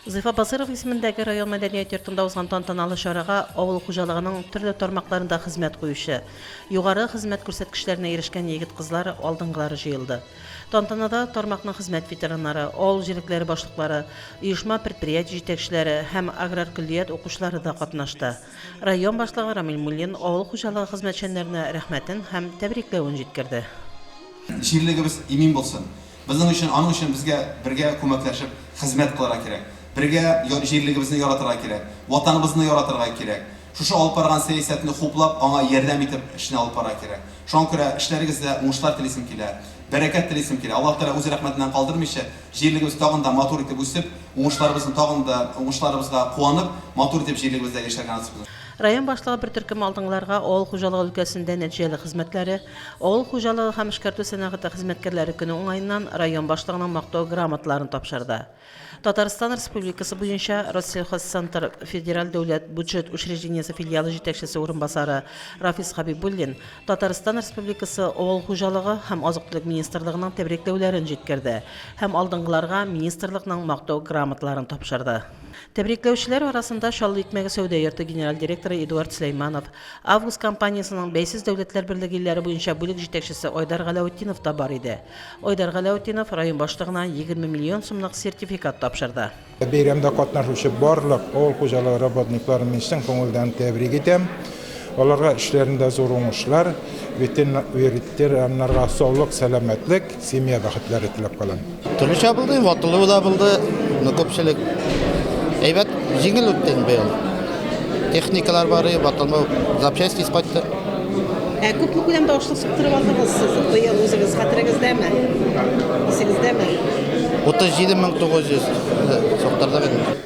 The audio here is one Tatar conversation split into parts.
Зифа Басыйрова исемендәге район мәдәният йортында узган тантаналы чарага авыл хуҗалыгының төрле тармакларында хезмәт куючы, югары хезмәт күрсәткечләренә ирешкән егет-кызлар алдынгылары җыелды. Тантанада тармакның хезмәт ветераннары, авыл җирлекләре башлыклары, оешма-предприятие җитәкчеләре һәм аграр көллият укучылары да катнашты. Район башлыгы Рамил Муллин авыл хуҗалыгы хезмәтчәннәренә рәхмәтен һәм тәбрикләвен җиткерде. Җирлегебез имин булсын! Безнең өчен, аның өчен безгә бергә күмәкләшеп хезмәт кылырга кирәк. Бергә җирлегебезне яратырга кирәк. Ватаныбызны яратырга кирәк. Шушы алып барган сәясәтне хуплап, аңа ярдәм итеп эшне алып барырга кирәк. Шуңа күрә эшләрегездә уңышлар телисем килә. Бәрәкәт телисем килә. Аллаһ Тәгалә үз рәхмәтеннән калдырмыйча, җирлегебез тагын да матур итеп үсеп, уңышларыбызны тагын да, уңышларыбызга куанып, матур итеп җирлегебездә яшәргә насыйп итсен. Район башлыгы бер төркем алдынгыларга авыл хуҗалыгы өлкәсендә нәтиҗәле хезмәтләре, Авыл хуҗалыгы һәм эшкәртү сәнәгате хезмәткәрләре көне уңаеннан район башлыгының Мактау грамоталарын тапшырды. Татарстан Республикасы буенча Россельхозцентр федераль дәүләт бюджет учреждениесе филиалы җитәкчесе урынбасары Рафис Хәбибуллин Татарстан Республикасы Авыл хуҗалыгы һәм азык-төлек министрлыгының тәбрикләүләрен җиткерде һәм алдынгыларга министрлыкның Мактау грамоталарын тапшырды. Тәбрикләүчеләр арасында Чаллы икмәге сәүдә йорты генераль директоры Эдуард Сөләйманов, Август компаниясенең Бәйсез дәүләтләр берлеге илләре буенча бүлек җитәкчесе Айдар Галәүтдинов та бар иде. Айдар Галәүтдинов район башлыгына 20 миллион сумлык сертификат тапшырды. Бәйрәмдә катнашучы барлык авыл хуҗалыгы работникларын мин чын күңелдән тәбрик итәм. Аларга эшләрендә зур уңышлар, ветераннарга саулык, сәламәтлек, семья бәхетләре теләп калам. Төрлечә булды, ватылу да булды, но күпчелек әйбәт, җиңел үтте инде быел. Техникалар бары, ватылмау, запчасть тиз кайтты. Ә күпме күләмдә ашлык суктырып алдыгыз сез быел үзегез, хәтерегездәме? Исегездәме? 37 мең 900 суктырдык инде.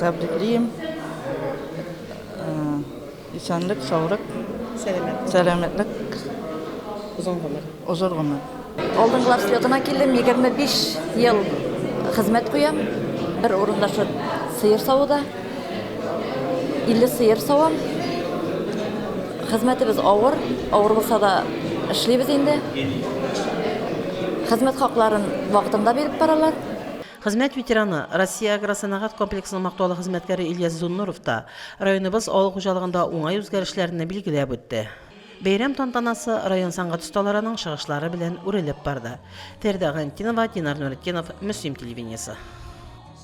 Тәбриклим. Исәнлек, саулык. Сәламәтлек. Сәламәтлек. Озын гомер. Озын гомер. Алдынгылар слетына килдем, 25 ел хезмәт куям. Бер урында шул сыер савуда. 50 сыер савам. Хезмәтебез авыр, авыр булса да эшлибез инде. Хезмәт хакларын вакытында биреп баралар. Хезмәт ветераны, Россия агросәнәгать комплексының мактаулы хезмәткәре Ильяс Зуннуров та районыбыз авыл хуҗалыгында уңай үзгәрешләрне билгеләп үтте. Бәйрәм тантанасы район сәнгать осталарының чыгышлары белән үрелеп барды. Фәридә Гайнтинова, Динар Нуретдинов, Мөслим телевидениесе.